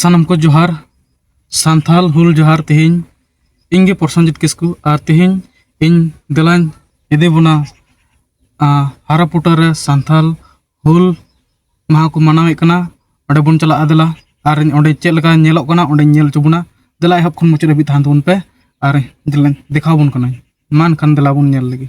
ᱥᱟᱱᱟᱢ ᱠᱚ ᱡᱚᱦᱟᱨ ᱥᱟᱱᱛᱷᱟᱞ ᱦᱩᱞ ᱡᱚᱦᱟᱨ ᱛᱮᱦᱮᱧ ᱤᱧ ᱜᱮ ᱯᱨᱚᱥᱚᱱᱡᱤᱛ ᱠᱤᱥᱠᱩ ᱟᱨ ᱛᱮᱦᱮᱧ ᱤᱧ ᱫᱮᱞᱟᱧ ᱤᱫᱤ ᱵᱚᱱᱟ ᱦᱟᱨᱟᱯᱩᱴᱟ ᱨᱮ ᱥᱟᱱᱛᱷᱟᱞ ᱦᱩᱞ ᱢᱟᱦᱟ ᱠᱚ ᱢᱟᱱᱟᱣᱮᱫ ᱠᱟᱱᱟ ᱚᱸᱰᱮ ᱵᱚᱱ ᱪᱟᱞᱟᱜᱼᱟ ᱫᱮᱞᱟ ᱟᱨ ᱚᱸᱰᱮ ᱪᱮᱫ ᱞᱮᱠᱟ ᱧᱮᱞᱚᱜ ᱠᱟᱱᱟ ᱚᱸᱰᱮ ᱧᱮᱞ ᱦᱚᱪᱚ ᱵᱚᱱᱟ ᱫᱮᱞᱟ ᱮᱦᱚᱵ ᱠᱷᱚᱱ ᱢᱩᱪᱟᱹᱫ ᱦᱟᱹᱵᱤᱡ ᱛᱟᱦᱮᱱ ᱛᱟᱵᱚᱱ ᱯᱮ ᱟᱨ ᱫᱮᱞᱟᱧ ᱫᱮᱠᱷᱟᱣ ᱵᱚᱱ ᱠᱟᱱᱟᱧ ᱢᱟ ᱮᱱᱠᱷᱟᱱ ᱫᱮᱞᱟ ᱵᱚᱱ ᱧᱮᱞ ᱞᱮᱜᱮ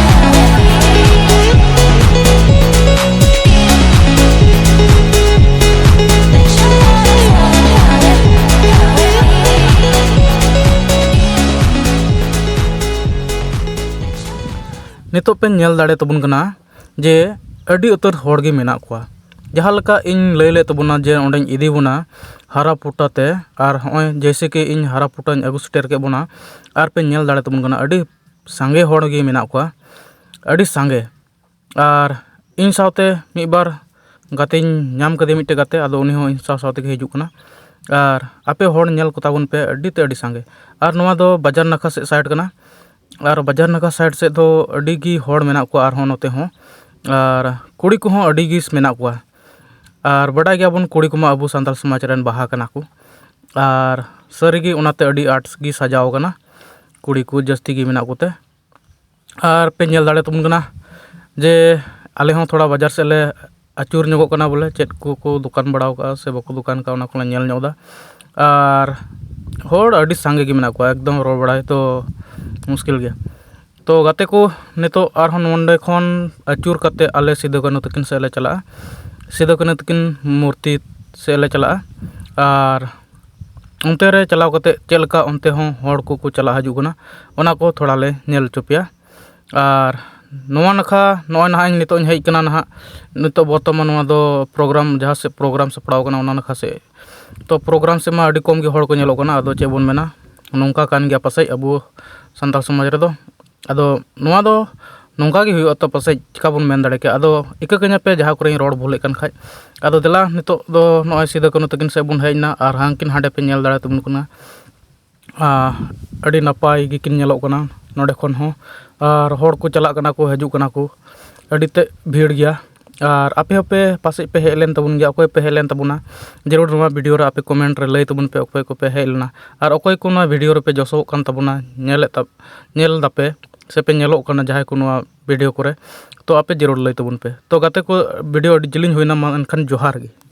ᱱᱤᱛᱚᱜ ᱯᱮ ᱧᱮᱞ ᱫᱟᱲᱮ ᱛᱟᱵᱚᱱ ᱠᱟᱱᱟ ᱡᱮ ᱟᱹᱰᱤ ᱩᱛᱟᱹᱨ ᱦᱚᱲ ᱜᱮ ᱢᱮᱱᱟᱜ ᱠᱚᱣᱟ ᱡᱟᱦᱟᱸ ᱞᱮᱠᱟ ᱤᱧ ᱞᱟᱹᱭ ᱞᱮᱫ ᱛᱟᱵᱚᱱᱟ ᱡᱮ ᱚᱸᱰᱮᱧ ᱤᱫᱤ ᱵᱚᱱᱟ ᱦᱟᱨᱟ ᱯᱩᱴᱟ ᱛᱮ ᱟᱨ ᱦᱚᱸᱜᱼᱚᱭ ᱡᱮᱭᱥᱮ ᱠᱤ ᱤᱧ ᱦᱟᱨᱟ ᱯᱩᱴᱟᱹᱧ ᱟᱹᱜᱩ ᱥᱮᱴᱮᱨ ᱠᱮᱫ ᱵᱚᱱᱟ ᱟᱨ ᱯᱮ ᱧᱮᱞ ᱫᱟᱲᱮ ᱛᱟᱵᱚᱱ ᱠᱟᱱᱟ ᱟᱹᱰᱤ ᱥᱟᱸᱜᱮ ᱦᱚᱲ ᱜᱮ ᱢᱮᱱᱟᱜ ᱠᱚᱣᱟ ᱟᱹᱰᱤ ᱥᱟᱸᱜᱮ ᱟᱨ ᱤᱧ ᱥᱟᱶᱛᱮ ᱢᱤᱫ ᱵᱟᱨ ᱜᱟᱛᱮᱧ ᱧᱟᱢ ᱠᱟᱫᱮᱭᱟ ᱢᱤᱫᱴᱮᱱ ᱜᱟᱛᱮ ᱟᱫᱚ ᱩᱱᱤ ᱦᱚᱸ ᱤᱧ ᱥᱟᱶ ᱥᱟᱶ ᱛᱮᱜᱮ ᱦᱤᱡᱩᱜ ᱠᱟᱱᱟ ᱟᱨ ᱟᱯᱮ ᱦᱚᱲ ᱧᱮᱞ ᱠᱚᱛᱟ ᱵᱚᱱ ᱯᱮ ᱟᱹᱰᱤ ᱛᱮᱫ ᱟᱹᱰᱤ ᱥᱟᱸᱜᱮ ᱟᱨ ᱱᱚᱣᱟ ᱫᱚ ᱵᱟᱡᱟᱨ ᱱᱟᱠᱷᱟ ᱥᱮᱫ ᱥᱟᱭᱤᱰ ᱠᱟᱱᱟ ᱟᱨ ᱵᱟᱡᱟᱨ ᱱᱟᱠᱷᱟ ᱥᱟᱭᱤᱰ ᱥᱮᱫ ᱫᱚ ᱟᱹᱰᱤ ᱜᱮ ᱦᱚᱲ ᱢᱮᱱᱟᱜ ᱠᱚᱣᱟ ᱟᱨᱦᱚᱸ ᱱᱚᱛᱮ ᱦᱚᱸ ᱟᱨ ᱠᱩᱲᱤ ᱠᱚᱦᱚᱸ ᱟᱹᱰᱤ ᱜᱮ ᱢᱮᱱᱟᱜ ᱠᱚᱣᱟ ᱟᱨ ᱵᱟᱰᱟᱭ ᱜᱮᱭᱟ ᱵᱚᱱ ᱠᱩᱲᱤ ᱠᱚᱢᱟ ᱟᱵᱚ ᱥᱟᱱᱛᱟᱲ ᱥᱚᱢᱟᱡᱽ ᱨᱮᱱ ᱵᱟᱦᱟ ᱠᱟᱱᱟ ᱠᱚ ᱟᱨ ᱥᱟᱹᱨᱤᱜᱮ ᱚᱱᱟᱛᱮ ᱟᱹᱰᱤ ᱟᱸᱴ ᱜᱮ ᱥᱟᱡᱟᱣ ᱠᱟᱱᱟ ᱠᱩᱲᱤ ᱠᱚ ᱡᱟᱹᱥᱛᱤ ᱜᱮ ᱢᱮᱱᱟᱜ ᱠᱚᱛᱮ ᱟᱨ ᱯᱮ ᱧᱮᱞ ᱫᱟᱲᱮ ᱟᱛᱟᱵᱚᱱ ᱠᱟᱱᱟ ᱡᱮ ᱟᱞᱮ ᱦᱚᱸ ᱛᱷᱚᱲᱟ ᱵᱟᱡᱟᱨ ᱥᱮᱫ ᱞᱮ ᱟᱹᱪᱩᱨ ᱧᱚᱜᱚᱜ ᱠᱟᱱᱟ ᱵᱚᱞᱮ ᱪᱮᱫ ᱠᱚᱠᱚ ᱫᱚᱠᱟᱱ ᱵᱟᱲᱟᱣ ᱠᱟᱜᱼᱟ ᱥᱮ ᱵᱟᱠᱚ ᱫᱚᱠᱟᱱ ᱠᱟᱜᱼᱟ ᱚᱱᱟ ᱠᱚᱞᱮ ᱧᱮᱞ ᱧᱚᱜ ᱮᱫᱟ ᱟᱨ ᱦᱚᱲ ᱟᱹᱰᱤ ᱥᱟᱸᱜᱮ ᱜᱮ ᱢᱮᱱᱟᱜ ᱠᱚᱣᱟ ᱮᱠᱫᱚᱢ ᱨᱚᱲ ᱵᱟᱲᱟᱭ ᱛᱚ ᱢᱩᱥᱠᱤᱞ ᱜᱮᱭᱟ ᱛᱚ ᱜᱟᱛᱮ ᱠᱚ ᱱᱤᱛᱚᱜ ᱟᱨᱦᱚᱸ ᱱᱚᱰᱮ ᱠᱷᱚᱱ ᱟᱹᱪᱩᱨ ᱠᱟᱛᱮᱫ ᱟᱞᱮ ᱥᱤᱫᱩ ᱠᱟᱹᱱᱦᱩ ᱛᱟᱹᱠᱤᱱ ᱥᱮᱫ ᱞᱮ ᱪᱟᱞᱟᱜᱼᱟ ᱥᱤᱫᱩ ᱠᱟᱹᱱᱦᱩ ᱛᱟᱹᱠᱤᱱ ᱢᱩᱨᱛᱤ ᱥᱮᱫ ᱞᱮ ᱪᱟᱞᱟᱜᱼᱟ ᱟᱨ ᱚᱱᱛᱮ ᱨᱮ ᱪᱟᱞᱟᱣ ᱠᱟᱛᱮᱫ ᱪᱮᱫ ᱞᱮᱠᱟ ᱚᱱᱛᱮ ᱦᱚᱸ ᱦᱚᱲ ᱠᱚᱠᱚ ᱪᱟᱞᱟᱜ ᱦᱤᱡᱩᱜ ᱠᱟᱱᱟ ᱚᱱᱟ ᱠᱚ ᱛᱷᱚᱲᱟ ᱞᱮ ᱧᱮᱞ ᱦᱚᱪᱚ ᱯᱮᱭᱟ ᱟᱨ ᱱᱚᱣᱟ ᱱᱟᱠᱷᱟ ᱱᱚᱜᱼᱚᱭ ᱱᱟᱦᱟᱜ ᱤᱧ ᱱᱤᱛᱚᱜ ᱤᱧ ᱦᱮᱡ ᱠᱟᱱᱟ ᱱᱟᱦᱟᱜ ᱱᱤᱛᱚᱜ ᱵᱚᱨᱛᱚᱢᱟᱱ ᱱᱚᱣᱟ ᱫᱚ ᱯᱨᱳᱜᱨᱟᱢ ᱡᱟᱦᱟᱸ ᱥᱮᱫ ᱯᱨᱳᱜᱨᱟᱢ ᱥᱟᱯᱲᱟᱣ ᱠᱟᱱᱟ ᱚᱱᱟ ᱱᱟᱠᱷᱟ ᱥᱮᱫ ᱛᱚ ᱯᱨᱳᱜᱨᱟᱢ ᱥᱮᱫ ᱢᱟ ᱟᱹᱰᱤ ᱠᱚᱢ ᱜᱮ ᱦᱚᱲ ᱠᱚ ᱧᱮᱞᱚᱜ ᱠᱟᱱᱟ ᱟᱫᱚ ᱪᱮᱫ ᱵᱚᱱ ᱢᱮᱱᱟ ᱱᱚᱝᱠᱟ ᱠᱟᱱ ᱜᱮᱭᱟ ᱯᱟᱥᱮᱡ ᱟᱵᱚ ᱥᱟᱱᱛᱟᱲ ᱥᱚᱢᱟᱡᱽ ᱨᱮᱫᱚ ᱟᱫᱚ ᱱᱚᱣᱟ ᱫᱚ ᱱᱚᱝᱠᱟ ᱜᱮ ᱦᱩᱭᱩᱜᱼᱟ ᱛᱚ ᱯᱟᱥᱮᱡ ᱪᱤᱠᱟᱹ ᱵᱚᱱ ᱢᱮᱱ ᱫᱟᱲᱮ ᱠᱮᱭᱟ ᱟᱫᱚ ᱤᱠᱟᱹ ᱠᱟᱹᱧᱟ ᱯᱮ ᱡᱟᱦᱟᱸ ᱠᱚᱨᱮᱧ ᱨᱚᱲ ᱵᱷᱩᱞᱮᱫ ᱠᱟᱱ ᱠᱷᱟᱡ ᱟᱫᱚ ᱫᱮᱞᱟ ᱱᱤᱛᱚᱜ ᱫᱚ ᱱᱚᱜᱼᱚᱸᱭ ᱥᱤᱫᱩ ᱠᱟᱹᱱᱦᱩ ᱛᱟᱹᱠᱤᱱ ᱥᱮᱫ ᱵᱚᱱ ᱦᱮᱡ ᱮᱱᱟ ᱟᱨ ᱦᱟᱱᱠᱤᱱ ᱦᱟᱸᱰᱮ ᱯᱮ ᱧᱮᱞ ᱫᱟᱲᱮ ᱛᱟᱵᱚᱱ ᱠᱟᱱᱟ ᱟᱨ ᱟᱹᱰᱤ ᱱᱟᱯᱟᱭ ᱜᱮᱠᱤᱱ ᱧᱮᱞᱚᱜ ᱠᱟᱱᱟ ᱱᱚᱰᱮ ᱠᱷᱚᱱ ᱦᱚᱸ ᱟᱨ ᱦᱚᱲ ᱠᱚ ᱪᱟᱞᱟᱜ ᱠᱟᱱᱟ ᱠᱚ ᱦᱤᱡᱩᱜ ᱠᱟᱱᱟ ᱠᱚ ᱟᱹᱰᱤ ᱛᱮᱫ ᱵᱷᱤᱲ ᱜᱮᱭᱟ ᱟᱨ ᱟᱯᱮ ᱦᱚᱸᱯᱮ ᱯᱟᱥᱮᱡ ᱯᱮ ᱦᱮᱡ ᱞᱮᱱ ᱛᱟᱵᱚᱱ ᱜᱮᱭᱟ ᱚᱠᱚᱭ ᱯᱮ ᱦᱮᱡ ᱞᱮᱱ ᱛᱟᱵᱚᱱᱟ ᱡᱟᱹᱨᱩᱲ ᱱᱚᱣᱟ ᱵᱷᱤᱰᱭᱳ ᱨᱮ ᱟᱯᱮ ᱠᱚᱢᱮᱱᱴ ᱨᱮ ᱞᱟᱹᱭ ᱛᱟᱵᱚᱱ ᱯᱮ ᱚᱠᱚᱭ ᱠᱚᱯᱮ ᱦᱮᱡ ᱞᱮᱱᱟ ᱟᱨ ᱚᱠᱚᱭ ᱠᱚ ᱱᱚᱣᱟ ᱵᱷᱤᱰᱭᱳ ᱨᱮᱯᱮ ᱡᱚᱥᱚᱜ ᱠᱟᱱ ᱛᱟᱵᱚᱱᱟ ᱧᱮᱞᱮᱫ ᱧᱮᱞ ᱫᱟᱯᱮ ᱥᱮᱯᱮ ᱧᱮᱞᱚᱜ ᱠᱟᱱᱟ ᱡᱟᱦᱟᱸᱭ ᱠᱚ ᱱᱚᱣᱟ ᱵᱷᱤᱰᱭᱳ ᱠᱚᱨᱮᱜ ᱛᱳ ᱟᱯᱮ ᱡᱟᱹᱨᱩᱲ ᱞᱟᱹᱭ ᱛᱟᱵᱚᱱ ᱯᱮ ᱛᱳ ᱜᱟᱛᱮ ᱠᱚ ᱵᱷᱤᱰᱭᱳ ᱟᱹᱰᱤ ᱡᱤᱞᱤᱧ ᱦᱩᱭᱱᱟ ᱢᱟ ᱮᱱᱠᱷᱟᱱ ᱡᱚᱦᱟᱨ ᱜᱮ